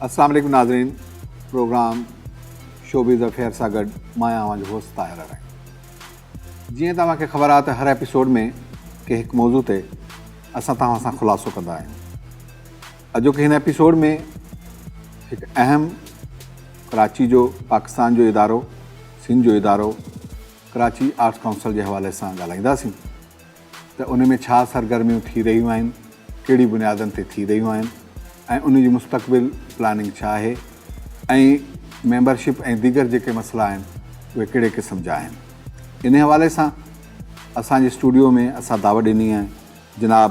السلام عليڪم ناظرين پروگرام شوبيز افيئر سان گڏ مان آهيان اوهان جو هوسٽ طاهر اراڻي جيئن توهان کي خبر آهي ته هر ايپيسوڊ ۾ ڪنهن هڪ موضوع تي اسان توهان سان خلاصو ڪندا آهيون اڄوڪي هن ايپيسوڊ ۾ هڪ اهم ڪراچي جو پاڪستان جو ادارو سنڌ جو ادارو ڪراچي آرٽس ڪائونسل جي حوالي سان ڳالهائينداسين ته ان ۾ ڇا سرگرميون ٿي رهيون آهن، ڪهڙي بنيادن تي ٿي رهيون آهن ۽ ان جي مستقبل پلاننگ ڇا آهي ۽ ميمبرشپ ۽ ديگر جيڪي مسئلا آهن اهي ڪهڙي قسم جا آهن. ان حوالي سان اسان جي اسٽوڊيو ۾ اسان دعوت ڏني ۽ جناب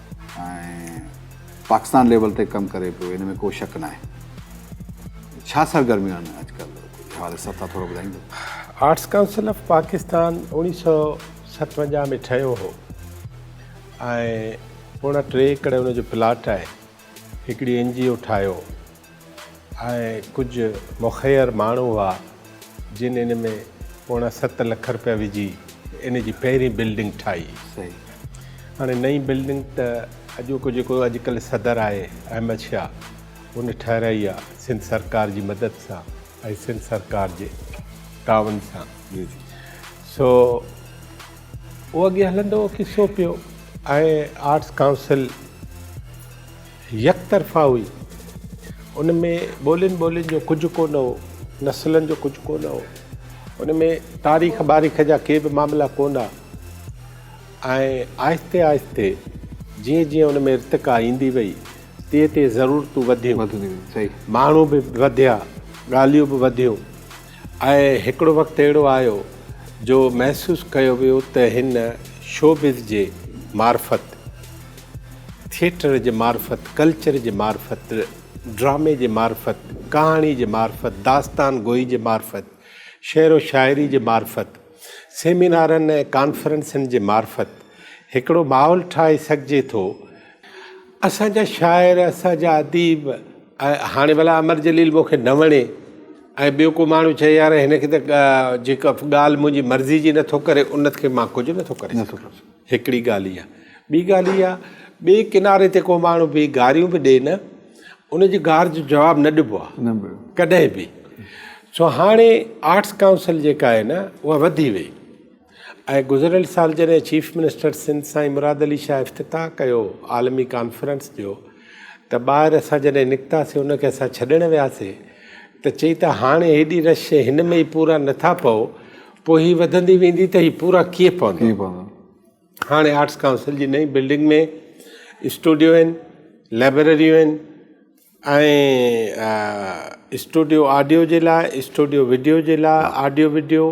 ۽ پاڪستان ليول تي ڪم ڪري پيو ان ۾ ڪو شڪ ناهي ڇا سرگرميون آهن اڄ ڪلهه حوالي سان تھا ٿورو ٻڌائيندو آرٽس ڪائونسل آف پاڪستان اوڻيھ سو ستونجاھ ۾ ٺهيو هو ۽ پوڻا ٽي ايڪڙ ان جو پلاٽ آهي هڪڙي اين جي او ٺاهيو ۽ ڪجهه مخير ماڻهو هئا جن ان ۾ پوڻا ست لک رپيا وجهي ان جي پهرين بلڊنگ ٺاهي. هاڻي نئين بلڊنگ ته اڄوڪو جيڪو اڄڪلهه صدر آهي احمد شاهه ان ٺهرائي آهي سنڌ سرڪار جي مدد سان ۽ سنڌ سرڪار جي تعاون سان سو اهو اڳي هلندو هو ڪسو پيو ۽ آرٽس ڪائونسل يڪ طرفا هئي. ان ۾ ٻولين ٻولين جو ڪجهه ڪو نه هو، نسلن جو ڪجهه ڪو نه هو. ان ۾ تاريخ باريخ جا ڪي به معاملا ڪو نه ها ۽ آهستي آهستي جيئن جيئن ان ۾ ارتقا ايندي وئي تيئن تيئن ضرورتون وڌيون، ماڻهو به وڌيا، ڳالهيون به وڌيون. آئي هڪڙو وقت اهڙو آيو جو محسوس ڪيو ويو ته هن شوبز جي معرفت، ٿيٽر جي معرفت، ڪلچر جي معرفت، ڊرامي جي معرفت، ڪهاڻي جي معرفت، داستان گوئي جي معرفت، شعر و شاعري جي معرفت، سيمينارن ۽ ڪانفرنسن جي معرفت هڪڙو ماحول ٺاهي سگهجي ٿو، اسان جا شاعر، اسان جا اديب ۽ هاڻي ڀلا امر جليل مون کي نه وڻي ۽ ٻيو ڪو ماڻهو چئي يار هن کي ته جيڪا ڳالهه منهنجي مرضي جي نه ٿو ڪري ان کي مان ڪجهه نه ٿو ڪري سگهان هڪڙي ڳالهه اها ٻي ڳالهه اها ٻئي ڪناري تي ڪو ماڻهو بيهي گاريون به ڏئي نه ان جي گار جو جواب نه ڏبو آهي ڪڏهن به سو هاڻي آرٽس ڪائونسل جيڪا آهي نه اها وڌي وئي ۽ گذريل سال جڏهن چيف منسٽر سنڌ سائين مراد علي شاهه افتتاح ڪيو عالمي ڪانفرنس جو ته ٻاهر اسان جڏهن نڪتاسي ان کي اسان ڇڏڻ وياسي ته چئي ته هاڻي هيڏي رش شي هن ۾ ئي پورا نٿا پئو پوء هي وڌندي ويندي ته هي پورا ڪيئن پوندا هاڻي آرٽس ڪائونسل جي نئين بلڊنگ ۾ اسٽوڊيو آهن لائبرريون آهن ۽ اسٽوڊيو آڊيو جي لاء اسٽوڊيو وڊيو جي لاء آڊيو وڊيو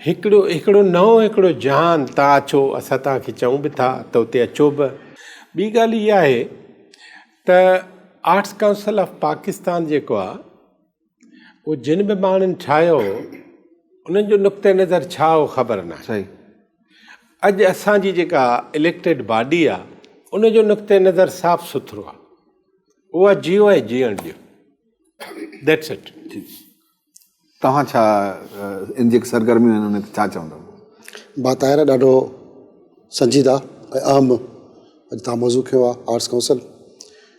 هڪڙو هڪڙو نئون هڪڙو جهان تان اچو اسان تان کي چئون به ٿا ته اتي اچو به ٻي ڳالهه اها آهي ته آرٽس ڪائونسل آف پاڪستان جيڪو آهي اهو جن به ماڻهن ٺاهيو هو انهن جو نقطه نظر ڇا هو خبر نه صحيح اڄ اسان جي جيڪا اليڪٽيڊ باڊي آ ان جو نقطه نظر صاف سٿرو آ اها جيو ۽ جيئڻ ڏيو ذيٽس اٽ توهان ڇا ان جي سرگرميون آهن انهن تي ڇا چوندا با طاهر ڏاڍو سنجيده ۽ اهم اڄ تان موضوع کيو آ آرٽس ڪائونسل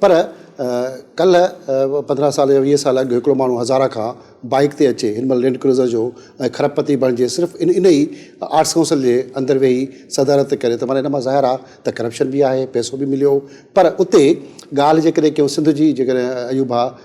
پر ڪلهه پندرهن سال يا ويهه سال اڳ هڪڙو ماڻهو هزاره کان بائيڪ تي اچي هن مهل لينڊ ڪروزر جو ۽ کرپ پتي بڻجي صرف ان ان ئي آرٽس ڪائونسل جي اندر ويهي صدارت ڪري ته معنيٰ ان مان ظاهر آ ته ڪرپشن به آهي پئسو به مليو پر اتي ڳالهه جيڪڏهن ڪيون سنڌ جي جيڪڏهن ايوب ڀاء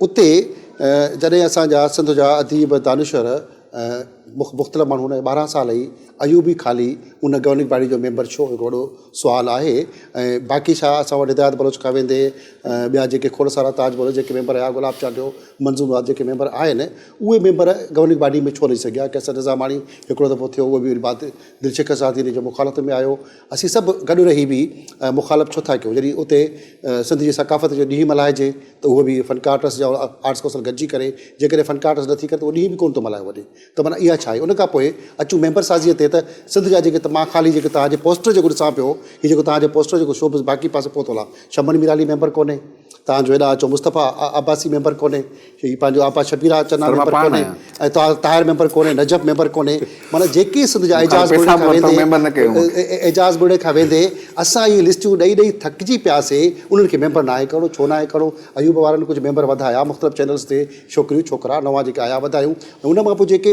اتي جڏهن اسان جا سنڌ جا اديب، دانشور ۽ مختلف ماڻهو هوندا آهن، ٻارهن سال ئي ايوبي خالي ان گورننگ باڊي جو ميمبر ڇو هڪ وڏو سوال آهي ۽ باقي ڇا اسان وٽ هدايت بلوچ کان ويندي ٻيا جيڪي کوڙ سارا تاج بلوچ جيڪي ميمبر هيا گلاب چانڊيو، منظور مراد جيڪي ميمبر آهن اهي ميمبر گورننگ باڊي ۾ ڇو نه اچي سگهيا، قيصر نظاماڻي هڪڙو دفعو ٿيو اهو به بعد دلشڪ سازي جو مخالفت ۾ آيو. اسين سڀ گڏ رهي به مخالف ڇو ٿا ڪيون جڏهن اتي سنڌ جي ثقافت جو ڏينهن ملهائجي ته اهو به فنڪار ٽرسٽ جا آرٽس ڪونسل گڏجي ڪري جيڪڏهن فنڪار ٽرسٽ نٿي ڪري ته اهو ڏينهن به ڪونه ٿو ملهايو وڃي ته معنيٰ اها ڇا آهي ان کان پوء اچون ميمبر سازيء تي ته سنڌ جا جيڪي مان خالي جيڪي توهان جي پوسٽر جيڪو ڏسان پيو هي جيڪو توهان جي پوسٽر جيڪو شو باقي پاسي پهتل آهي شمن ميرالي ميمبر ڪونهي توهان جو هيڏانهن اچو مصطفيٰ عباسي ميمبر ڪونهي، هي پنهنجو آپا شبير آغا چنا ميمبر ڪونهي ۽ طاهر طاهر ميمبر ڪونهي، نجف ميمبر ڪونهي، معنيٰ جيڪي سنڌ جا اعجاز ڳوڙهي کان ويندي اعجاز ڳوڙهي کان ويندي اسان اهي لسٽيون ڏئي ڏئي ٿڪجي پياسي، انهن کي ميمبر ناهي ڪرڻو، ڇو ناهي ڪرڻو، ايوب وارن ڪجهه ميمبر وڌايا مختلف چينلز تي ڇوڪريون ڇوڪرا نوان جيڪي آيا وڌايون ۽ ان مان پوء جيڪي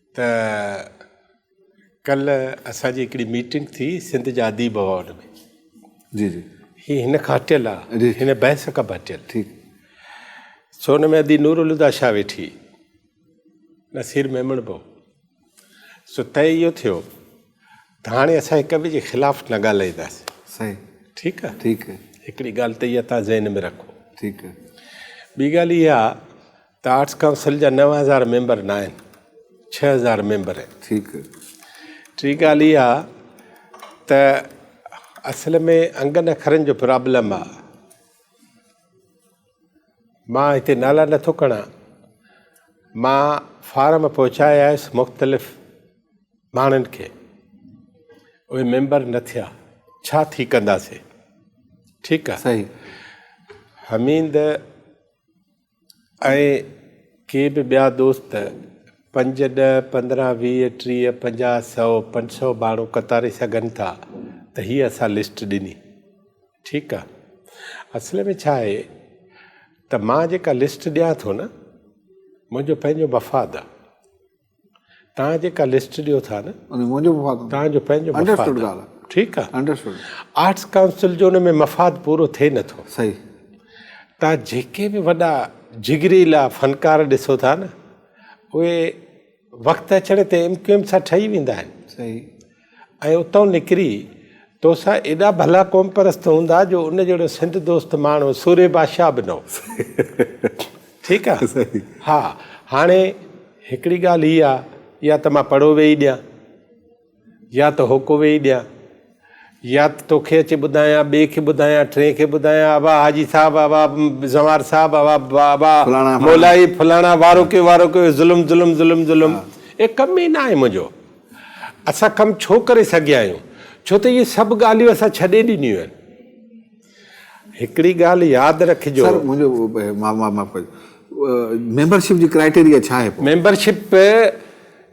ته ڪلهه اسان جي هڪڙي ميٽنگ ٿي سنڌ جي اديب ايوارڊ ۾ جي جي هي هن کان هٽيل آ هن بحث کان به هٽيل ٺيڪ سو ان ۾ ادي نور الهدى شاهه ويٺي نصير ميمڻ به سو طئي اهو ٿيو ته هاڻي اسان هڪ ٻئي جي خلاف نه ڳالهائينداسين. صحيح. ٺيڪ آهي. ٺيڪ آهي. هڪڙي ڳالهه ته اها توهان ذهن ۾ رکو. ٺيڪ آهي. ٻي ڳالهه اها ته آرٽس ڪائونسل جا نو هزار ميمبر نه آهن، ڇهه هزار ميمبر آهن. ٺيڪ. ٽي ڳالهه اها ته اصل ۾ انگن اکرن جو پرابلم آهي. مان هتي نالا نه ٿو کڻان. مان فارم پهچائي آيس مختلف ماڻهن کي. اهي ميمبر نه ٿيا. ڇا ٿي ڪنداسين. ٺيڪ آ. صحيح. حميد ۽ ڪي به ٻيا دوست پنج ڏهه پندرهن ويهه ٽيهه پنجاهه سئو پنج سئو ماڻهو ڪتاري سگهن ٿا ته هي اسان لسٽ ڏني. ٺيڪ آ اصل ۾ ڇا آهي ته مان جيڪا لسٽ ڏيان ٿو نه منهنجو پنهنجو مفاد آ توهان جيڪا لسٽ ڏيو ٿا نه منهنجو مفاد توهان جو پنهنجو مفاد آ ٺيڪ آ آرٽس ڪائونسل جو ان ۾ مفاد پورو ٿئي نه ٿو صحيح توهان جيڪي به وڏا جگريلا فنڪار ڏسو ٿا نه اهي وقت اچڻ تي ايم ڪيو ايم سان ٺهي ويندا آهن. صحيح. ۽ اتئون نڪري توسان ايڏا ڀلا قوم پرست هوندا جو ان جهڙو سنڌ دوست ماڻهو سورهيه بادشاهه به نه هو. ٺيڪ آ. ها هاڻي هڪڙي ڳالهه هي آ يا ته مان پڙهو ويهي ڏيان. يا ته هوڪو ويهي ڏيان، يا ته توکي اچي ٻڌايان، ٻئي کي ٻڌايان، ٽئين کي ٻڌايان، ابا حاجي صاحب، ابا زنوار صاحب، ابا ابا مولائي فلاڻا وارو ڪيو، وارو ڪيو، ظلم ظلم ظلم ظلم. اهي ڪم ئي ناهي منهنجو. اسان ڪم ڇو ڪري سگهيا آهيون؟ ڇو ته اهي سڀ ڳالهيون اسان ڇڏي ڏنيون آهن. هڪڙي ڳالهه ياد رکجو. سر منهنجو معاف ڪجو ميمبرشپ جي ڪرائيٽيريا ڇا آهي پوء؟ ميمبرشپ.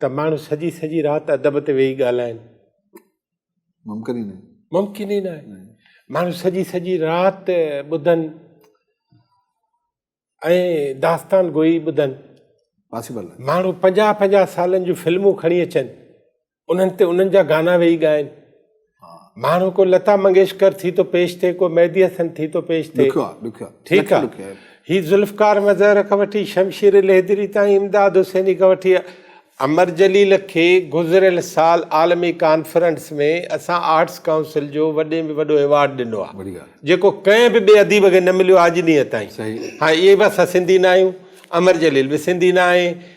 ته ماڻهو سڄي سڄي رات ادب تي ويهي ڳالهائين ممڪن ئي نه ممڪن ئي نه آهي ماڻهو سڄي سڄي رات ٻڌن ۽ داستان گوئي ٻڌن پاسبل ماڻهو پنجاهه پنجاهه سالن جون فلمون کڻي اچن انهن تي انهن جا گانا ويهي ڳائن ماڻهو ڪو لتا منگيشڪر ٿي ٿو پيش ٿئي ڪو مهدي حسن ٿي ٿو پيش ٿئي ٺيڪ آ هي ذوالفقار مظهر کان وٺي شمشير لهدري تائين امداد حسيني کان وٺي امر جليل کي گذريل سال عالمي ڪانفرنس ۾ اسان آرٽس ڪائونسل جو وڏي ۾ وڏو ايوارڊ ڏنو آ جيڪو ڪنهن به ٻي اديب کي نه مليو آ اڄ ڏينهن تائين هاڻ اهي به اسان سنڌي نه آهيون امر جليل به سنڌي نه آهي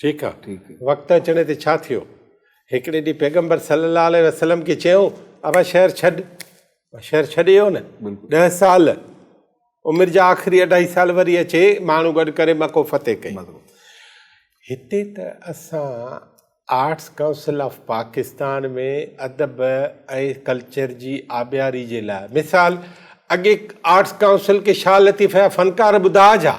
ٺيڪ آ وقت اچڻي تي ڇا ٿيو هڪڙي ڏينهن پيغمبر صلي الله عليه وسلم کي چيو ابا شهر ڇڏ شهر ڇڏي ويو نه ڏهه سال عمر جا آخري اڍائي سال وري اچي ماڻهو گڏ ڪري مڪو فتح ڪئي هتي ته اسان آرٽس ڪائونسل آف پاڪستان ۾ ادب ۽ ڪلچر جي آبياري جي لاء مثال اڳي آرٽس ڪائونسل کي شاهه لطيف جا فنڪار ٻڌا جا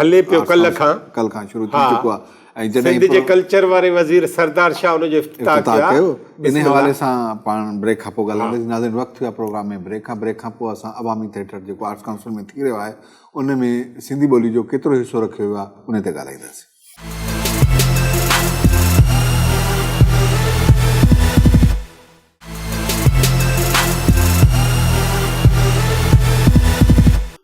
هلي پيو ڪلهه کان ڪلهه کان شروع ٿي چڪو آهي ۽ جڏهن سنڌ جي ڪلچر واري وزير سردار شاهه ان جو افتتاح ڪيو ان حوالي سان پاڻ بريڪ کان پوء ڳالهائينداسين ناظرين وقت ٿيو آهي پروگرام ۾ بريڪ کان بريڪ کان پوء اسان عوامي ٿيٽر جيڪو آرٽس ڪائونسل ۾ ٿي رهيو آهي ان ۾ سنڌي ٻولي جو ڪيترو حصو رکيو ويو آهي ان تي ڳالهائينداسين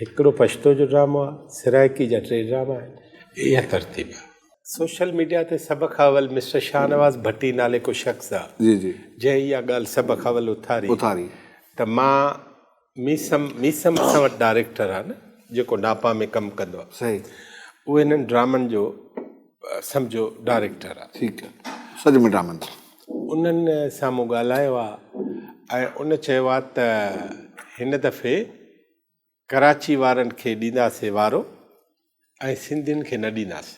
هڪڙو پشتو جو ڊرامو آ سرائڪي جا ٽي ڊراما آهن اها ترتيب آ. سوشل ميڊيا تي سڀ کان اول مسٽر شاهنواز ڀٽي نالي ڪو شخص آ جنهن اها ڳالهه سڀ کان اول اٿاري ته مان ميسم ميسم اسان وٽ ڊائريڪٽر آ نه جيڪو ناپا ۾ ڪم ڪندو آ اهو هنن ڊرامن جو سمجهو ڊائريڪٽر آ. ٺيڪ آ سڄ مٽ آ منزل. انهن سان مون ڳالهايو آ ۽ ان چيو آ ته هن دفعي ڪراچي وارن کي ڏينداسي وارو ۽ سنڌين کي نه ڏينداسي.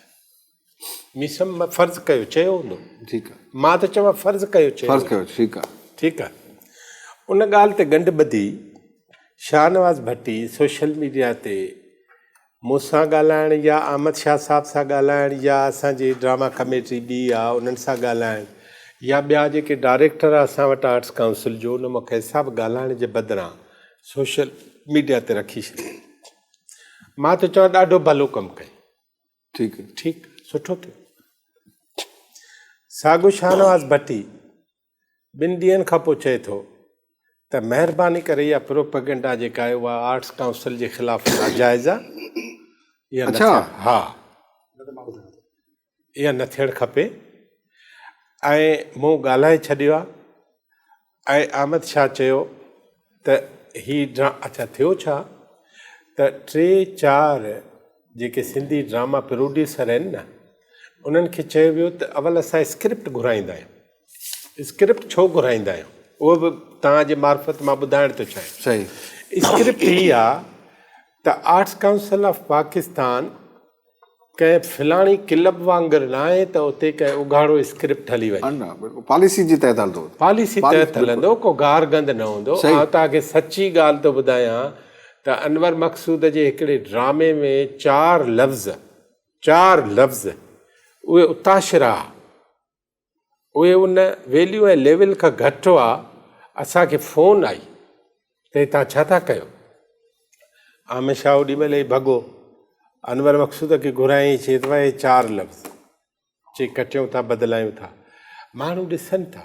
مين سم فرض ڪيو چيو هوندو. ٺيڪ آ. مان ته چوان فرض ڪيو چيو. فرض ڪيو ٺيڪ آ. ٺيڪ آ. ان ڳالهه تي ڳنڍ ٻڌي شاهنواز ڀٽي سوشل ميڊيا تي مون سان ڳالهائڻ يا احمد شاهه صاحب سان ڳالهائڻ يا اسان جي ڊراما ڪميٽي ٻي آ انهن سان ڳالهائڻ يا ٻيا جيڪي ڊائريڪٽر آ اسان وٽ آرٽس ڪائونسل جو ان مون کي حساب ڳالهائڻ جي بدران سوشل ميڊيا تي رکي ڇڏيو مان ته چوان ڏاڍو ڀلو ڪم ڪيو ٺيڪ ٺيڪ سٺو ٿيو ساڳو شاهنواز ڀٽي ٻن ڏينهن کان پوء چئي ٿو ته مهرباني ڪري اها پروپيگنڊا جيڪا آهي اها آرٽس ڪائونسل جي خلاف ناجائز آهي اها ها اها نه ٿيڻ کپي ۽ مون ڳالهائي ڇڏيو آهي ۽ احمد شاهه چيو ته هي ڊرا اڇا ٿيو ڇا ته ٽي چار جيڪي سنڌي ڊراما پروڊيوسر آهن نه انهن کي چيو ويو ته اول اسان اسڪرپٽ گهرائيندا آهيون اسڪرپٽ ڇو گهرائيندا آهيون اهو به تان جي معرفت مان ٻڌائڻ ٿو چاهيان صحيح اسڪرپٽ هي آ ته آرٽس ڪائونسل آف پاڪستان ڪنهن فلاڻي ڪلب وانگر ناهي ته اتي ڪنهن اگهاڙو اسڪرپٽ هلي وڃي. نه بلڪل پاليسي جي تحت هلندو. پاليسي تحت هلندو ڪو گار گند نه هوندو. آئون توهان کي سچي ڳالهه ٿو ٻڌايان ته انور مقصود جي هڪڙي ڊرامي ۾ چار لفظ چار لفظ اهي اتاشرا. اهي ان ويليو ۽ ليول کان گهٽ هئا، اسان کي فون آئي ته هي توهان ڇا ٿا ڪيو؟ عامر شاهه اوڏي مهل ئي ڀڳو انور مقصود کي گهرايائين چي ته اهي چار لفظ چي ڪٽيون ٿا بدلايون ٿا ماڻهو ڏسن ٿا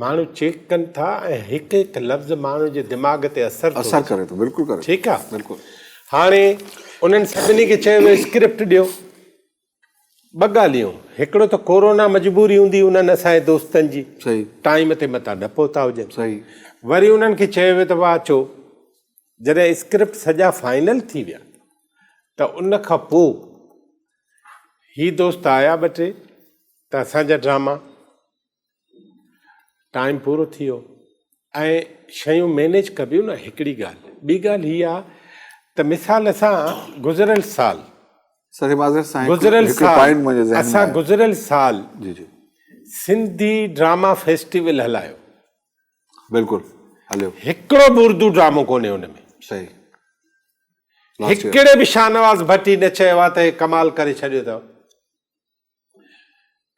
ماڻهو چيڪ ڪن ٿا ۽ هڪ هڪ لفظ ماڻهو جي دماغ تي اثر ٿو اثر ڪري ٿو بلڪل ڪري ٺيڪ آ بلڪل هاڻي انهن سڀني کي چيو ويو اسڪرپٽ ڏيو ٻه ڳالهيون هڪڙو ته ڪورونا مجبوري هوندي انهن اسان جي دوستن جي ٽائيم تي متان نه پهتا هجن وري انهن کي چيو ويو ته واهه اچو جڏهن اسڪرپٽ سڄا فائنل ٿي ويا ته ان کان پوء هي دوست آيا ٻه ٽي ته اسان جا ڊراما ٽائيم پورو ٿي ويو ۽ شيون مينيج ڪبيون نه هڪڙي ڳالهه ٻي ڳالهه هي آ ته مثال اسان گذريل سال سر معذرت سان گذريل سال اسان گذريل سال جي جي سنڌي ڊراما فيسٽيول هلايو بلڪل هليو هڪڙو به اردو ڊرامو ڪونهي ان ۾ صحيح هڪڙي به شاهنواز ڀٽي نه چيو آ ته هي ڪمال ڪري ڇڏيو اٿو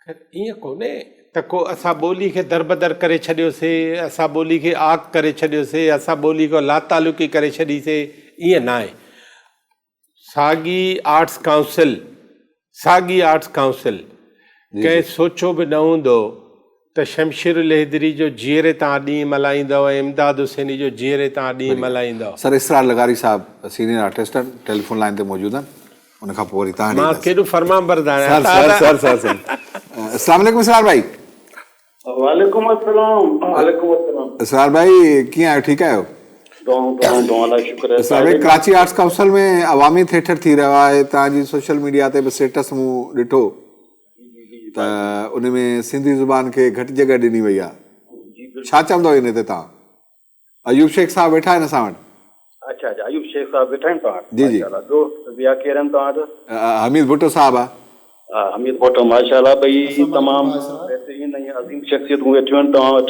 ائين ڪونهي ته ڪو اسان ٻولي کي دربدر ڪري ڇڏيوسي، اسان ٻولي کي عاق ڪري ڇڏيوسي، اسان ٻولي کان لاتعلقي ڪري ڇڏي سي، ائين ناهي. ساڳي آرٽس ڪائونسل ساڳي آرٽس ڪائونسل ڪنهن سوچيو به نه هوندو ته شمشير الهيدري جو جيئري تان ڏينهن ملهائيندؤ ۽ امداد حسيني جو جيئري تان ڏينهن ملهائيندؤ. سر اسرار لغاري صاحب سينيئر آرٽسٽ آهن ٽيليفون لائين تي موجود آهن ان کان پوء وري تهان ڏي مان ڪيڏو فرمانبردار آهيان سر سر سر سر سر اسلام عليڪم اسرار ڀائي وعليڪم السلام وعليڪم السلام اسرار ڀائي ڪيئن آهيو ٺيڪ آهيو دعائون دعائون دعائون لاء شڪر آهي اسرار ڀائي ڪراچي آرٽس ڪائونسل ۾ عوامي ٿيٽر ٿي رهيو آهي تهان جي سوشل ميڊيا تي به اسٽيٽس مون ڏٺو ته ان ۾ سنڌي زبان کي گهٽ جڳهه ڏني وئي آهي ڇا چوندو ان تي توهان ايوب شيخ صاحب ويٺا آهن اسان وٽ اچا اچا ايوب شيخ صاحب ويٺا آهن توهان جي جي ٻيو ٻيا ڪير آهن توهان وٽ حميد ڀٽو صاحب آهي ها حميد ڀٽو ماشاءالله ٻئي تمام بهترين ۽ عظيم شخصيتون ويٺيون آهن توهان وٽ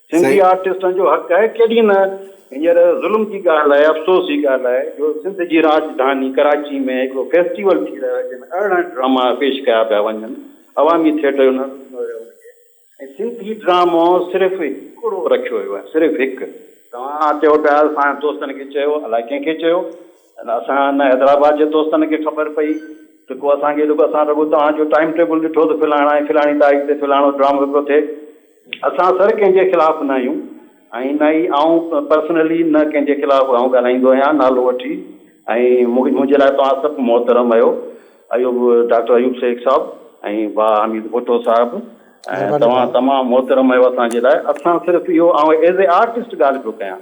سنڌي آرٽسٽن جو حق آهي ڪيڏي نه هينئر ظلم جي ڳالهه آهي افسوس جي ڳالهه آهي جو سنڌ جي راڄڌاني ڪراچي ۾ هڪڙو فيسٽيول ٿي رهيو آهي جنهن ۾ ارڙهن ڊراما پيش ڪيا پيا وڃن عوامي ٿيٽر جو نالو ڏنو ويو ان کي ۽ سنڌي ڊرامو صرف هڪڙو رکيو ويو آهي صرف هڪ توهان چئو پيا اسان دوستن کي چيو الاء ڪنهن کي چيو اسان نه حيدرآباد جي دوستن کي خبر پئي ته ڪو اسان کي رڳو اسان رڳو توهان جو ٽائيم ٽيبل ڏٺو ته فلاڻا ۽ فلاڻي تاريخ تي فلاڻو ڊرامو هڪڙو ٿئي اسان سر ڪنهن جي خلاف نه آهيون ۽ نه ئي آئون پرسنلي نه ڪنهن جي خلاف آئون ڳالهائيندو آهيان نالو وٺي ۽ منهنجي لاء توهان سڀ محترم اهيو ايوب ڊاڪٽر ايوب شيخ صاحب ۽ با حميد ڀٽو صاحب ۽ توهان تمام محترم اهيو اسان جي لاء اسان صرف اهيو آئون ايز اي آرٽسٽ ڳالهه پيو ڪيان.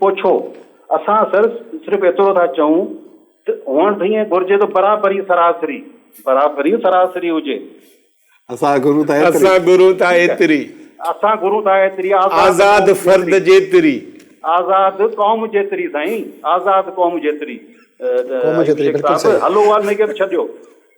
پوڇو، اسان سر صرف ايترو ٿا چئون ته هئڻ ته ائين گهرجي ته برابري سراسري، برابري سراسري هجي. اسان گهرون ٿا ايتري. اسان گهرون ٿا ايتري. اسان گهرون ٿا ايتري. آزاد فرد جيتري. آزاد قوم جيتري سائين. آزاد قوم جيتري. قوم جيتري بلڪل صحيح. هلو اها نيڪيت ڇڏيو.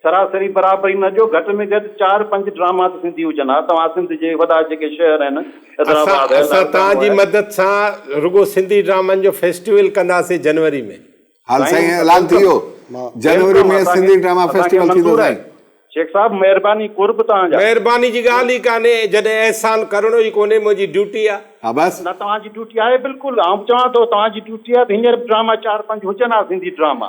سراسري برابري نه جو گهٽ ۾ گهٽ چار پنج ڊراما ته سنڌي هجن ها توهان سنڌ جي وڏا جيڪي شهر آهن حيدرآباد آهي اسان لاڙڪاڻو توهان جي آهي. مدد سان رڳو سنڌي ڊرامن جو فيسٽيول ڪنداسين جنوري ۾. ها سائين سائين اعلان ٿي ويلڪم ويو جنوري ويلڪم ۾ اسان کي سنڌي ڊراما اسان کي فيسٽيول ٿيندو منظور آهي سائين. شيخ صاحب مهرباني قرب توهان جا. مهرباني جي ڳالهه ئي ڪانهي جڏهن احسان ڪرڻو ئي ڪونهي منهنجي ڊيوٽي آ. ها بس. نه توهان جي ڊيوٽي آهي بلڪل آئون به چوان ٿو توهان جي ڊيوٽي آهي ته هينئر به ڊراما چار پنج هجن ها سنڌي ڊراما.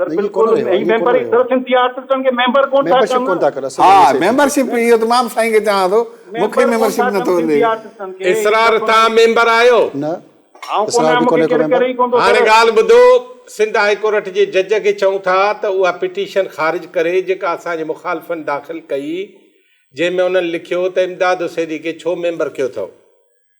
سر بلڪل اي ميمبر اي سر سنڌي آرٽسٽن کي ميمبر ڪون ٿا ڪن ها ميمبر شپ ايو ته مان سائين کي چوان ٿو مونکي ميمبر شپ نه ٿو ملي اسرار توهان ميمبر آهيو نه آئون ڪون آهيان مونکي ڪير ڪري ڪون ٿو هاڻي ڳالهه ٻڌو سنڌ هائي ڪورٽ جي جج کي چئون ٿا ته اها پٽيشن خارج ڪري جيڪا اسان جي مخالفن داخل ڪئي جنهن ۾ انهن لکيو ته امداد حسيني کي ڇو ميمبر ڪيو اٿئو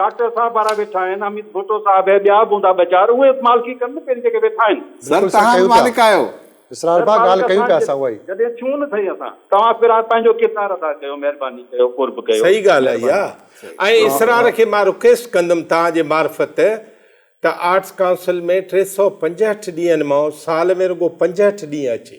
ڊاڪٽر صاحب وارا ويٺا آهن حميد ڀٽو صاحب هي ٻيا به هوندا ٻه چار اهي به مالڪي ڪن نه پهرين جيڪي ويٺا آهن. سر توهان به مالڪ آهيو. اسرار ڀاء ڳالهه ڪيون پيا اسان اها ئي. جڏهن ڇون نه سهي اسان. توهان اسرار پنهنجو ڪردار ادا ڪيو مهرباني ڪيو قرب ڪيو. صحيح ڳالهه آهي اها ۽ اسرار کي مان رڪويسٽ ڪندم توهان جي معرفت ته آرٽس ڪائونسل ۾ ٽي سؤ پنجهٺ ڏينهن مان سال ۾ رڳو پنجهٺ ڏينهن اچي.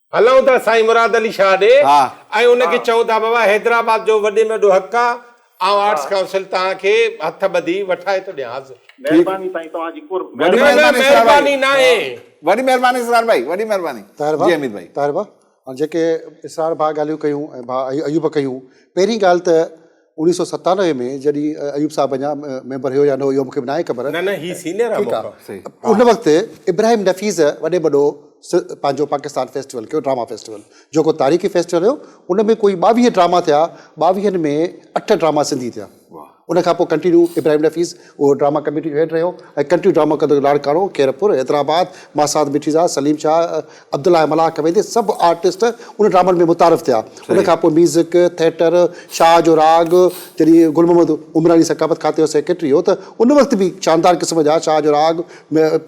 هلون ٿا سائين مراد علي شاهه ڏي ۽ ان کي چئون ٿا بابا حيدرآباد جو وڏي ۾ وڏو حق آهي آئون آرٽس ڪائونسل توهان کي هٿ ٻڌي وٺائي ٿو ڏيان حاضر. مهرباني سائين توهان جي قرب. نه نه مهرباني ناهي. وڏي مهرباني اسرار ڀائي وڏي مهرباني جي اميد ڀائي. طاهر ڀاء هاڻ جيڪي اسرار ڀاء ڳالهيون ڪيون ۽ ڀاء ايوب ڪيون پهرين ڳالهه ته. انيس سئو ستانوي ۾ جڏهن ايوب صاحب اڃا ميمبر هيو يا نه هو اهو مون کي به ناهي خبر. نه نه هي سينيئر آ مون کان. ان وقت ابراهيم نفيس وڏي وڏو پنهنجو پاڪستان فيسٽيول ڪيو ڊراما فيسٽيول جيڪو تاريخي فيسٽيول هيو ان ۾ ڪوئي ٻاويهه ڊراما ٿيا ٻاويهن ۾ اٺ ڊراما سنڌي ٿيا ان کان پوء ڪنٽينيو ابراهيم نفيس اهو ڊراما ڪميٽي جو هيڊ رهيو ۽ ڪنٽري ڊراما ڪندڙ لاڙڪاڻو، خيرپور، حيدرآباد، ماسات مٺيزاد، سليم شاهه، عبدالله ۽ ملاح ڪويندي سڀ آرٽسٽ ان ڊرامن ۾ متعارف ٿيا. ان کان پوء ميوزڪ، ٿيٽر، شاهه جو راڳ، جڏهن گل محمد عمراڻي ثقافت کاتي جو سيڪريٽري هو ته ان وقت به شاندار قسم جا شاهه جو راڳ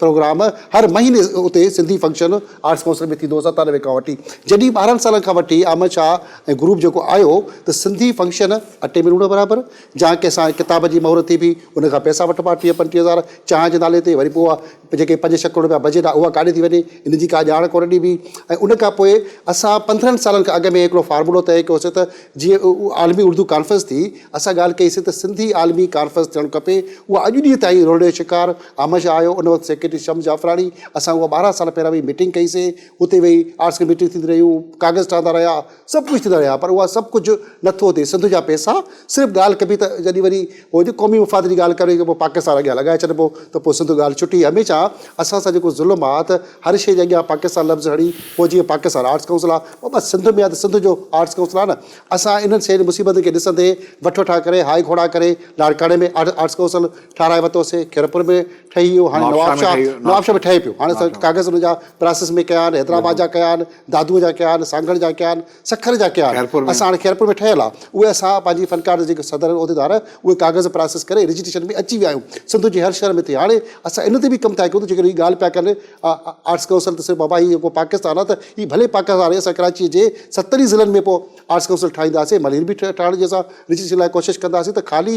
پروگرام هر مهيني اتي سنڌي فنڪشن آرٽس ڪائونسل ۾ ٿيندو هو ستانوي کان وٺي جڏهن ٻارهن سالن کان وٺي احمد شاهه ۽ گروپ جيڪو آيو ته سنڌي فنڪشن اٽي ۾ لوڻ برابر جنهن ڪي سان ڪتاب جي مهر ٿي بيهي ان کان پئسا وٺبا ٽيهه پنجٽيهه هزار چانهه جي نالي تي وري پوء اها جيڪي پنج ڇهه ڪروڙ رپيا بجيٽ آهي اها ڪاڏي ٿي وڃي ان جي ڪا ڄاڻ ڪونه ڏبي ۽ ان کان پوء اسان پندرهن سالن کان اڳ ۾ هڪڙو فارمولو طئي ڪيوسي ته جيئن عالمي اردو ڪانفرنس ٿي اسان ڳالهه ڪئي سي ته سنڌي عالمي ڪانفرنس ٿيڻ کپي اها اڄ ڏينهن تائين رولي جو شڪار آمشه آهيو ان وقت سيڪريٽري شمس جعفراڻي اسان اها ٻارهن سال پهريان ويهي ميٽنگ ڪئي سي اتي ويهي آرٽس ڪميٽي ٿيندي رهيون ڪاغذ ٺهندا رهيا سڀ ڪجهه ٿيندا رهيا پر اها سڀ ڪجهه نه ٿو ٿئي سنڌ جا پئسا صرف ڳالهه ڪبي ته جڏهن وري هو جي قومي مفاد جي ڳالهه ڪري پوء پاڪستان اڳيان لڳائي ڇڏبو ته پوء سنڌ ڳالهه ڇٽي هميشه اسان سان جيڪو ظلم آ ته هر شيء جي اڳيان پاڪستان لفظ هڻي پوء جيئن پاڪستان آرٽس ڪائونسل آ پوء بس سنڌ ۾ آ ته سنڌ جو آرٽس ڪائونسل آ نه اسان انهن شين مصيبتن کي ڏسندي وٺ وٺان ڪري هاء گهوڙا ڪري لاڙڪاڻي ۾ آرٽس ڪائونسل ٺاهرائي ورتو سي خيرپور ۾ ٺهي ويو هاڻي نوابشاهه نوابشاهه ۾ ٺهي پيو هاڻي اسان ڪاغذ ان جا پراسس ۾ ڪيا آهن حيدرآباد جا ڪيا آهن دادوء جا ڪيا آهن، سانگهڙ جا ڪيا آهن، سکر جا ڪيا آهن. خيرپور ۾. اسان هاڻي خيرپور ۾ ٺهيل آ، اهي اسان پنهنجي فنڪار جا جيڪي صدر عهديدار اهي ڪاغذ پراسيس ڪري رجسٽريشن ۾ اچي ويا آهيون. سنڌ جي هر شهر ۾ ٿئي. هاڻي اسان ان تي به ڪم ٿا ڪيون ته جيڪڏهن هي ڳالهه پيا ڪن آرٽس ڪائونسل ته صرف بابا هي جيڪو پاڪستان آ ته هي ڀلي پاڪستان آهي اسان ڪراچيء جي ستن ئي ضلعن ۾ پوء آرٽس ڪائونسل ٺاهينداسين ملير به ٺاهڻ جي اسان رجسٽريشن لاء ڪوشش ڪنداسين ته خالي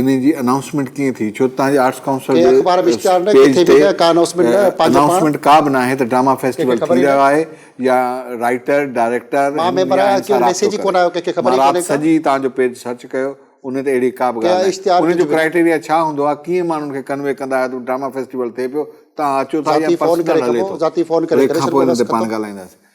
انهي جي انائونسمينٽ ڪيئن ٿي ڇو ته تهان جي آرٽس ڪائونسل جي پيج تي انائونسمينٽ ڪا به ناهي ته ڊراما فيسٽيول ٿي رهيو آهي يا رائيٽر ڊائريڪٽر ماراب سڄي تهان جو پيج سرچ ڪيو انهي تي اهڙي ڪا به ڳالهه ناهي انهي جو ڪرائيٽيريا ڇا هوندو آهي ڪيئن ماڻهن کي ڪنوي ڪندا آهيو ته ڊراما فيسٽيول ٿئي پيو تهان اچو ٿا يا پرسنل هلي ٿو انهي کانپوء انهي تي پاڻ ڳالهائينداسين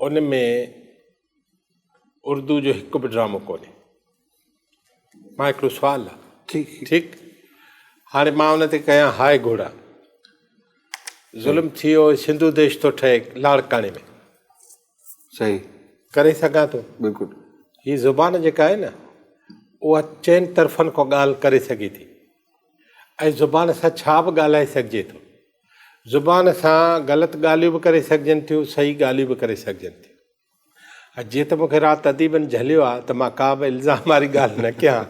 ان ۾ اردو جو هڪ به ڊرامو ڪونهي مان هڪڙو سوال آ ٺيڪ هاڻي مان ان تي ڪيان هاء گهوڙا ظلم ٿي ويو سنڌو ديش ٿو ٺهي لاڙڪاڻي ۾ صحيح ڪري سگهان ٿو بلڪل هي زبان جيڪا آهي نه اها چئن طرفن کان ڳالهه ڪري سگهي ٿي ۽ زبان سان ڇا به ڳالهائي سگهجي ٿو. زبان سان غلط ڳالهيون به ڪري سگهجن ٿيون، صحيح ڳالهيون به ڪري سگهجن ٿيون. ۽ جيئن ته مون کي رات اديبن جهليو آهي ته مان ڪا به الزام واري ڳالهه نه ڪيان،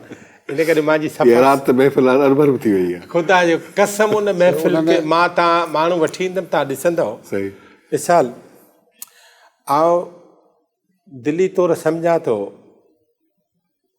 ان ڪري مان جي سفر. اها رات ته محفل هاڻ اربر به ٿي ويئي آهي. خدا جو قسم ان محفل کي مان تان ماڻهو وٺي ايندم تان ڏسندؤ. صحيح. مثال، آئون دلي طور سمجهان ٿو.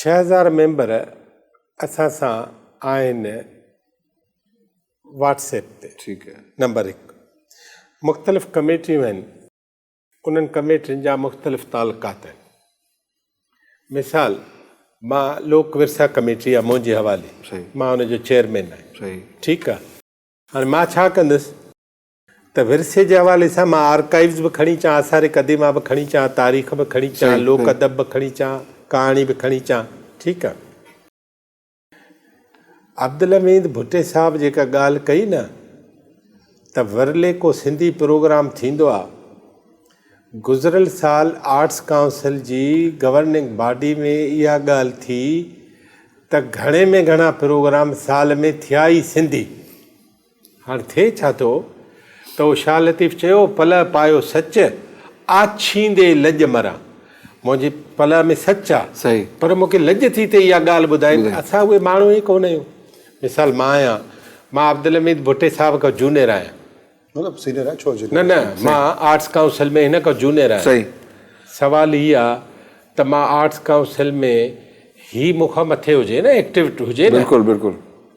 ڇهه هزار ميمبر اسان سان آهن واٽس ايپ تي ٺيڪ آهي نمبر هڪ مختلف ڪميٽيون آهن انهن ڪميٽين جا مختلف تعلقات آهن مثال مان لوڪ ورثا ڪميٽي آهي منهنجي حوالي مان ان جو چيئرمين آهي ٺيڪ آهي هاڻي مان ڇا ڪندس ته ورثي جي حوالي سان مان آرڪائيوز به کڻي اچان، آثار قديمه به کڻي اچان، تاريخ به کڻي اچان، لوڪ ادب به کڻي اچان، ڪهاڻي به کڻي اچان، ٺيڪ آ. عبدالحميد ڀٽي صاحب جيڪا ڳالهه ڪئي نه ته ورلي ڪو سنڌي پروگرام ٿيندو آ، گذريل سال آرٽس ڪائونسل جي گورننگ باڊي ۾ اها ڳالهه ٿي ته گهڻي ۾ گهڻا پروگرام سال ۾ ٿيا ئي سنڌي. هاڻ ٿئي ڇا ٿو ته او شاهه لطيف چيو، پلئه پايو سچ، آڇيندي لڄ مران. منهنجي پلئه ۾ سچ آ، پر مون کي لڄ ٿي ته اها ڳالهه ٻڌائين ته اسان اهي ماڻهو ئي ڪونه آهيون. مثال مان آهيان، مان عبدالحميد ڀٽي صاحب کان جونيئر آهيان. نه نه، مان آرٽس ڪائونسل ۾ هن کان جونيئر آهيان. سوال هي آ ته مان آرٽس ڪائونسل ۾ هي مون کان مٿي هجي نه، ايڪٽو هجي نه.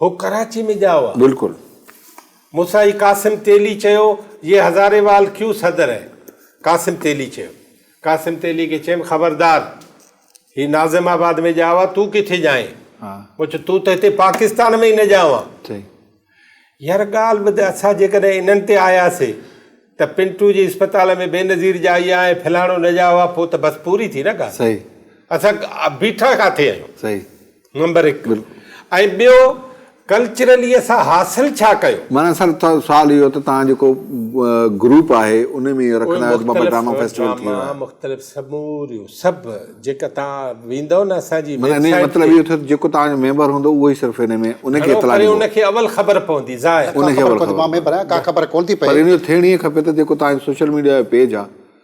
هو ڪراچي ۾ ڄائو آ. بلڪل. مونسان ئي قاسم تيلي چيو، يي هزاري وال ڪيو صدر هي؟ قاسم تيلي چيو. قاسم تيلي کي چيم، خبردار! هي ناظم آباد ۾ ڄائو آ، تون ڪٿي ڄائين؟ مون چيو، تون ته هتي پاڪستان ۾ ئي نه ڄائو آ. صحيح. يار ڳالهه ٻڌ، اسان جيڪڏهن انهن تي آياسي ته پنٽو جي اسپتال ۾ بينظير ڄائي آ ۽ فلاڻو نه ڄائو آ، پوء ته بس پوري ٿي نه ڳالهه. صحيح. اسان بيٺا ڪاٿي آهيون؟ صحيح. نمبر هڪ ۽ ٻيو ڪلچرلي اسان حاصل ڇا ڪيو؟ معنيٰ اصل سوال اهو ته توهان جيڪو گروپ آهي ان ۾ اهو رکندا آهيو ته بابا ڊراما فيسٽيول ٿي ويو آهي. مختلف سموريون سڀ جيڪا توهان ويندؤ نه اسان جي ويب سائيٽ تي. معنيٰ مطلب اهو ٿيو ته جيڪو توهان جو ميمبر هوندو اهو ئي صرف ان ۾ ان کي اطلاع ڏيندو. ان کي اول خبر پوندي ظاهر. ان کي اول خبر پوندي. مان ميمبر آهيان ڪا خبر ڪونه ٿي پئي. پر ان جو ٿيڻ ائين کپي ته جيڪو توهان جو سوشل ميڊيا جو پيج آهي.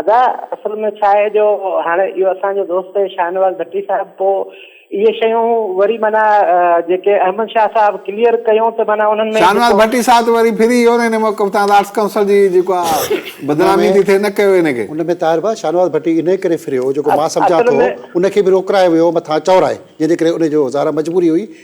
ادا اصل ۾ ڇا آهي جو هاڻي اهو اسان جو دوست شاهنواز ڀٽي صاحب پوء اهي شيون وري معنيٰ جيڪي احمد شاهه صاحب ڪليئر ڪيون ته معنيٰ انهن ۾ شاهنواز ڀٽي صاحب ته وري ڦري ويو نه هن موقف تان آرٽس ڪائونسل جي جيڪو بدنامي ٿي ٿئي نه ڪيو هن کي. ان ۾ طاهر ڀاء شاهنواز ڀٽي انهي ڪري ڦريو جيڪو مان سمجهان ٿو ان کي به روڪرائي ويو مٿان چورائي جنهن جي ڪري ان جو ظاهر آهي مجبوري هئي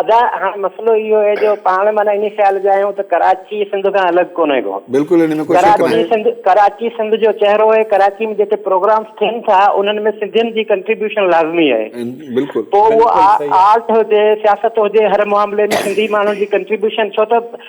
ادا هاڻي مسئلو اهو آهي جو پاڻ معنيٰ انهي خيال جا آهيون ته ڪراچي سنڌ کان الڳ ڪونهي ڪو بلڪل ان ۾ ڪو شڪ ناهي ڪراچي سنڌ ڪراچي سنڌ جو چهرو آهي ڪراچي ۾ جيڪي پروگرامز ٿين ٿا انهن ۾ سنڌين جي ڪنٽريبيوشن لازمي آهي بلڪل پوء اهو آرٽ هجي سياست هجي هر معاملي ۾ سنڌي ماڻهن جي ڪنٽريبيوشن ڇو ته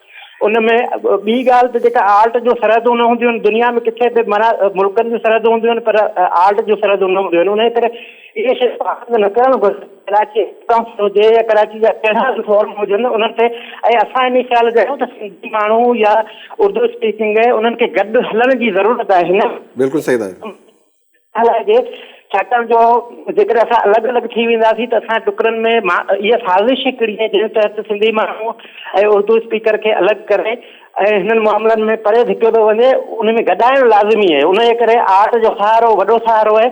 ان ۾ ٻي ڳالهه ته جيڪا آرٽ جون سرحدون نه هونديون آهن، دنيا ۾ ڪٿي به معنيٰ ملڪن جون سرحدون هونديون آهن پر آرٽ جون سرحدون نه هونديون آهن، انهيء ڪري اهي شيون پسند نه ڪرڻ گهرجن، ڪراچي اسٽمپ هجي يا ڪراچي جا ڪهڙا به فورم هجن انهن تي ۽ اسان انهيء خيال جا آهيون ته سنڌي ماڻهو يا اردو اسپيڪنگ انهن کي گڏ هلڻ جي ضرورت آهي نه بلڪل صحيح ٿا چئو. ڇا لاء جي ڇاڪاڻ جو جيڪڏهن اسان الڳ الڳ ٿي وينداسين ته اسان ٽڪرن ۾ اها سازش هڪڙي آهي جنهن تحت سنڌي ماڻهو ۽ اردو اسپيڪر کي الڳ ڪري ۽ هنن معاملن ۾ پري ڌڪيو ٿو وڃي ان ۾ گڏائڻ لازمي آهي ان جي ڪري آرٽ جو سهارو وڏو سهارو آهي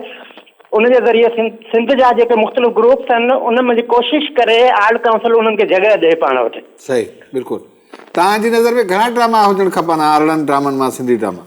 ان جي ذريعي سنڌ جا جيڪي مختلف گروپس آهن ان ۾ ڪوشش ڪري آرٽ ڪائونسل انهن کي جڳهه ڏئي پاڻ وٽ صحيح بلڪل توهان جي نظر ۾ گهڻا ڊراما هجڻ کپن آرڙن ڊرامن مان سنڌي ڊراما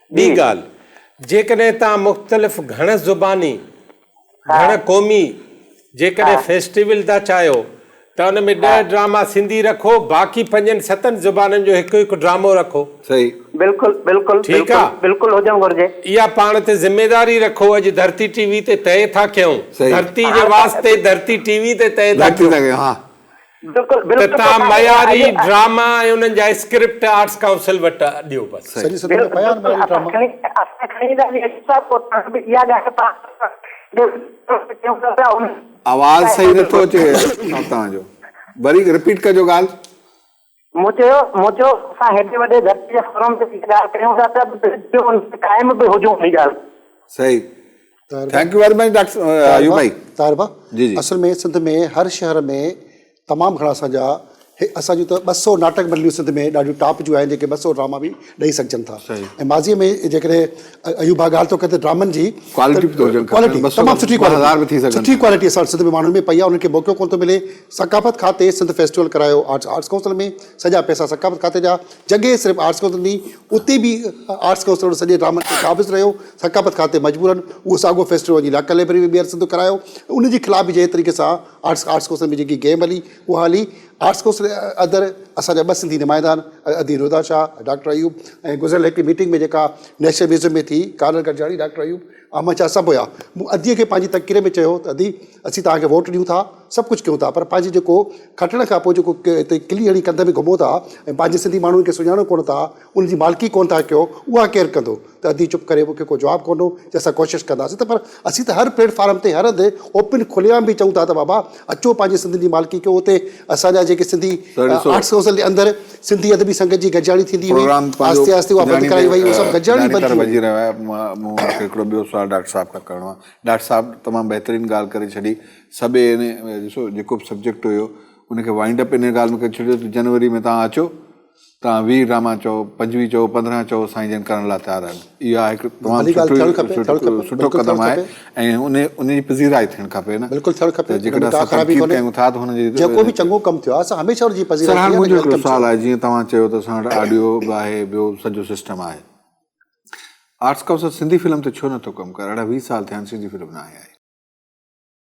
ٻي ڳالهه، جيڪڏهن توهان مختلف گهڻ زباني، گهڻ قومي جيڪڏهن فيسٽيول ٿا چاهيو ته ان ۾ ڏهه ڊراما سنڌي رکو باقي پنجن ستن زبانن جو هڪ هڪ ڊرامو رکو. صحيح. بلڪل بلڪل بلڪل بلڪل هجڻ گهرجي. اها پاڻ تي ذميداري رکو اڄ ڌرتي ٽي وي تي طئي ٿا ڪيون ڌرتي جي واسطي ڌرتي ٽي وي تي طئي ٿا ڪيون. ته توهان معياري ڊراما ۽ انهن جا اسڪرپٽ آرٽس ڪائونسل وٽ ڏيو بس. آواز صحيح نٿو اچي صاحب توهان جو. وري رپيٽ ڪجو ڳالهه. مون چيو مون چيو اسان هيڏي وڏي ڌرتي جي فورم تي هيء ڳالهه ڪريون ٿا ته ٻيو ان تي قائم به هجون هيء ڳالهه تي. صحيح thank you very much doctor Ayub ڀائي. طاهر ڀا اصل ۾ سنڌ ۾ هر شهر ۾ تمام گهڻا اسان جا اسان جون ته ٻه سئو ناٽڪ منڊليون سنڌ ۾ ڏاڍيون ٽاپ جون آهن جيڪي ٻه سئو ڊراما به ڏئي سگهجن ٿا ۽ ماضي ۾ جيڪڏهن ايوب ڀاء ڳالهه ٿو ڪري ته ڊرامن جي ڪوالٽي به ٿو هجڻ کپي ڪوالٽي تمام سٺي ڪوالٽي سٺي ڪوالٽي اسان سنڌ ۾ ماڻهن ۾ پئي آهي انهن کي موقعو ڪونه ٿو ملي ثقافت کاتي سنڌ فيسٽيول ڪرايو آرٽس آرٽس ڪائونسل ۾ سڄا پئسا ثقافت کاتي جا جڳهه صرف آرٽس ڪائونسل ڏني اتي به آرٽس ڪائونسل ان سڄي ڊرامن کي قابض رهيو ثقافت کاتي مجبورن اهو ساڳو فيسٽيول وڃي لاڪل لائبريري ۾ ٻيهر سنڌ ڪرايو ان جي خلاف به جنهن طريقي سان آرٽس آرٽس ڪائونسل ۾ جيڪي گيم هلي اها هلي آرٽس ڪونسل ادر اسان جا ٻه سنڌي نمائندا آهن ادي رودا شاهه ۽ ڊاڪٽر ايوب ۽ گذريل هڪڙي ميٽنگ ۾ جيڪا نيشنل ميوزيم ۾ ٿي ڪارل گڏجاڻي ڊاڪٽر ايوب احمد شاهه سڀ هيا مون ادي کي پنهنجي تقرير ۾ چيو ته ادي اسين توهان کي ووٽ ڏيون ٿا سڀ ڪجهه ڪيون ٿا پر پنهنجي جيڪو کٽڻ کان پوء جيڪو هتي ڪلي هڻي ڪنڌ ۾ گهمو ٿا ۽ پنهنجي سنڌي ماڻهن کي سڃاڻو ڪونه ٿا ان جي مالڪي ڪونه ٿا ڪيو، اها ڪير ڪندو؟ ته ادي چپ ڪري مون کي ڪو جواب ڪونه هو ته اسان ڪوشش ڪنداسين ته پر اسين ته هر پليٽ فارم تي هر هنڌ اوپن کلي عام به چئون ٿا ته بابا اچو پنهنجي سنڌين جي مالڪي ڪيو اتي اسان جا جيڪي سنڌي آرٽس ڪائونسل جي اندر سنڌي ادبي سنگت جي گڏجاڻي ٿيندي هئي آهستي آهستي اها بند ڪرائي وئي اهو سڀ گڏجاڻي بند ٿي وئي. مون کي هڪڙو ٻيو سوال ڊاڪٽر صاحب کان ڪرڻو آهي ڊاڪٽر صاحب تمام بهترين ڳالهه ڪري ڇڏي سڀ ڏسو جيڪو به سبجيڪٽ هيو ان کي وائنڊ اپ ان ڳالهه ۾ ڪري ڇڏيو ته جنوري ۾ تهان اچو تان ويهه ڊراما چئو، پنجويهه چئو، پندرهن چئو سائين جن ڪرڻ لاء تيار آهن. اها هڪ تمام سٺو سٺو قدم آهي ۽ ان جي پذيرائي ٿيڻ کپي نه ته جيڪڏهن اسان تنقيد ڪيون ٿا ته هن جي سرهاڻ منهنجو هڪڙو سوال آهي جيئن توهان چيو ته اسان وٽ آڊيو به آهي ٻيو سڄو سسٽم آهي آرٽس ڪائونسل سنڌي فلم تي ڇو نه ٿو ڪم ڪري اڙهه ويهه سال ٿيا آهن سنڌي فلم ناهي آئي.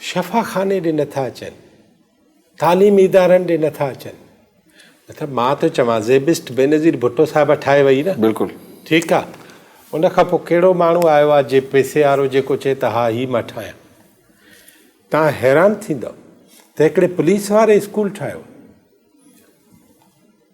شفا خاني ڏي نه ٿا اچن، تعليمي ادارن ڏي نه ٿا اچن. مطلب مان ٿو چوان زيبسٽ بينظير ڀٽو صاحب ٺاهي وئي نه. بلڪل. ٺيڪ آ. ان کان پوء ڪهڙو ماڻهو آيو آ جي پيسي وارو جيڪو چئي ته ها هي مان ٺاهيان. توهان حيران ٿيندؤ ته هڪڙي پوليس واري اسڪول ٺاهيو.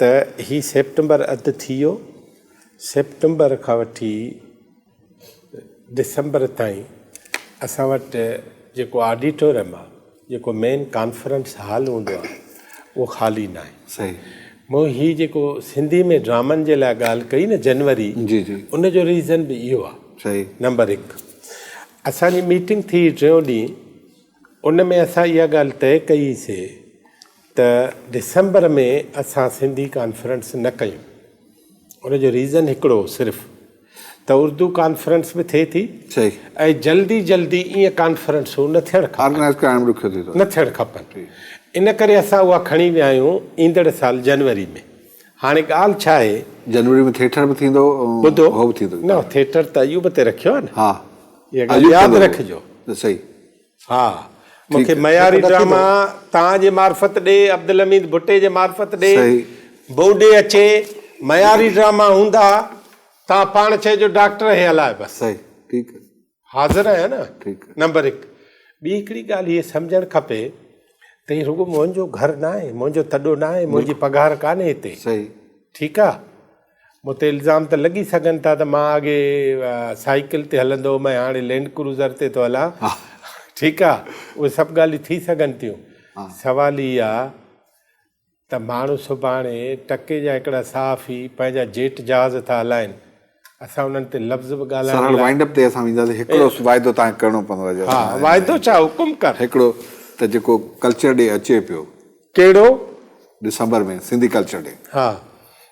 ته هي سيپٽمبر اڌ ٿي ويو، سيپٽمبر کان وٺي ڊسمبر تائين اسان وٽ جيڪو آڊيٽوريم آ جيڪو مين ڪانفرنس هال هوندو آ اهو خالي نه آهي صحيح مون هي جيڪو سنڌي ۾ ڊرامن جي لاء ڳالهه ڪئي نه جنوري جي جي ان جو ريزن به اهو آ صحيح نمبر هڪ اسان جي ميٽنگ ٿي ٽيون ڏينهن ان ۾ اسان اها ڳالهه طئي ڪئي سي ته ڊسمبر ۾ اسان سنڌي ڪانفرنس نه ڪيون ان جو ريزن هڪڙو هو صرف ته اردو ڪانفرنس به ٿئي ٿي ۽ جلدي جلدي ايئن ڪانفرنسون نه ٿيڻ کپن نه ٿيڻ کپن ان ڪري اسان اها کڻي ويا آهيون ايندڙ سال جنوري ۾ هاڻي ڳالهه ڇا آهي جنوري ۾ ٿيٽر به ٿيندو ٻڌو نه ٿيٽر ته ايوب تي رکيو آهي نه اها ڳالهه ياد رکجو ها مون کي معياري ڊراما توهان جي معرفت ڏي عبدالحميد ڀٽي جي معرفت ڏي بوڊي اچي معياري ڊراما هوندا توهان پاڻ چئجو ڊاڪٽر هي الاء بس حاضر آهيان نه نمبر هڪ ٻي هڪڙي ڳالهه هي سمجهڻ کپي ته هي رڳو منهنجو گهر ناهي منهنجو تڏو ناهي منهنجي پگهار ڪانهي هتي ٺيڪ آهي مون تي الزام ته لڳي سگهن ٿا ته مان اڳي سائيڪل تي هلندو هوم ۽ هاڻي لينڊ ڪروزر تي ٿو هلان ٺيڪ آ اهي سڀ ڳالهيون ٿي سگهن ٿيون سوال هي آ ته ماڻهو سڀاڻي ٽڪي جا هڪڙا صحافي پنهنجا جيٽ جهاز ٿا هلائين اسان انهن تي لفظ به ڳالهائڻ سرل وائنڊ اپ تي اسان وينداسين هڪڙو واعدو تان ڪرڻو پوندو جو ها واعدو ڇا حڪم ڪر هڪڙو ته جيڪو ڪلچر ڏي اچي پيو ڪهڙو ڊسمبر ۾ سنڌي ڪلچر ڏي ها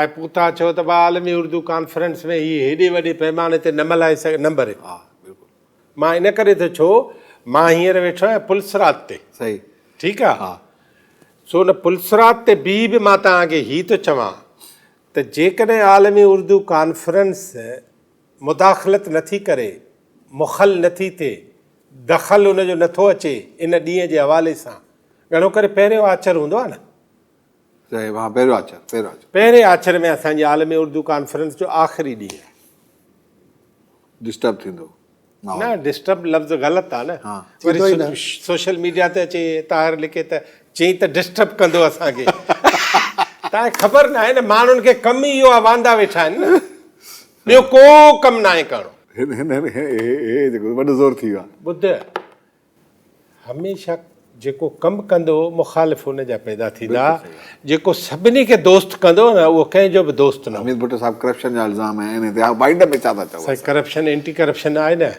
اي پوتا ڇو ته ٻه عالمي اردو ڪانفرنس ۾ هي هيڏي وڏي پيماني تي نه ملهائي سگهي نمبر هڪ ها بلڪل مان ان ڪري ٿو ڇو مان هينئر ويٺو آهيان پلسرات تي صحيح ٺيڪ آهي ها سو ان پلسرات تي بي به مان توهان کي هي ٿو چوان ته جيڪڏهن عالمي اردو ڪانفرنس مداخلت نه ٿي ڪري مخل نه ٿي ٿئي دخل ان جو نه ٿو اچي ان ڏينهن جي حوالي سان گهڻو ڪري پهريون آچر هوندو آهي نه پهرين آچر ۾ اسان جي عالمي اردو ڪانفرنس جو آخري ڏينهن آهي. ڊسٽرب ٿيندو. نه ڊسٽرب لفظ غلط آهي نه. وري سوشل ميڊيا تي اچي طاهر لکي ته چئين ته ڊسٽرب ڪندو اسان کي. تانکي خبر ناهي نه ماڻهن کي ڪم ئي اهو آهي واندا ويٺا آهن نه. ٻيو ڪو ڪم ناهي ڪرڻو. هن هن هن هي هي هي هي جيڪو وڏو زور ٿي ويو آهي. ٻڌ. هميشه جيڪو ڪم ڪندو مخالف ان جا پيدا ٿيندا جيڪو سڀني کي دوست ڪندو نه اهو ڪنهن جو به دوست نه حميد ڀٽو صاحب ڪرپشن جا الزام ۽ ان تي بائيڊن ۾ ڇا ٿا چئو سائين ڪرپشن اينٽي ڪرپشن آهي نه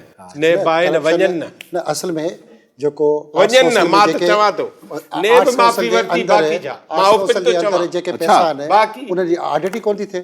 نيب آهي نه وڃن نه نه اصل ۾ جيڪو وڃن نه مان ته چوان ٿو نيب معافي ورتي باقي جا مان اوپن ٿو چوان باقي ان جي آڊٽ ئي ڪونه ٿي ٿئي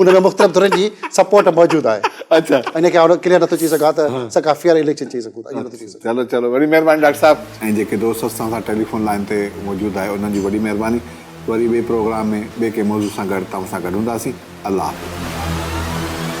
ان ۾ مختلف ڌرين جي سپورٽ موجود آهي اچا ان کي آئون ڪليئر نٿو چئي سگهان ته اسان کان فيئر اليڪشن چئي سگهون ٿا ايئن نٿو چئي سگهان چلو چلو وڏي مهرباني ڊاڪٽر صاحب ۽ جيڪي دوست اسان سان ٽيليفون لائين تي موجود آهي انهن جي وڏي مهرباني وري ٻئي پروگرام ۾ ٻئي ڪنهن موضوع سان گڏ توهان سان گڏ هونداسين الله حافظ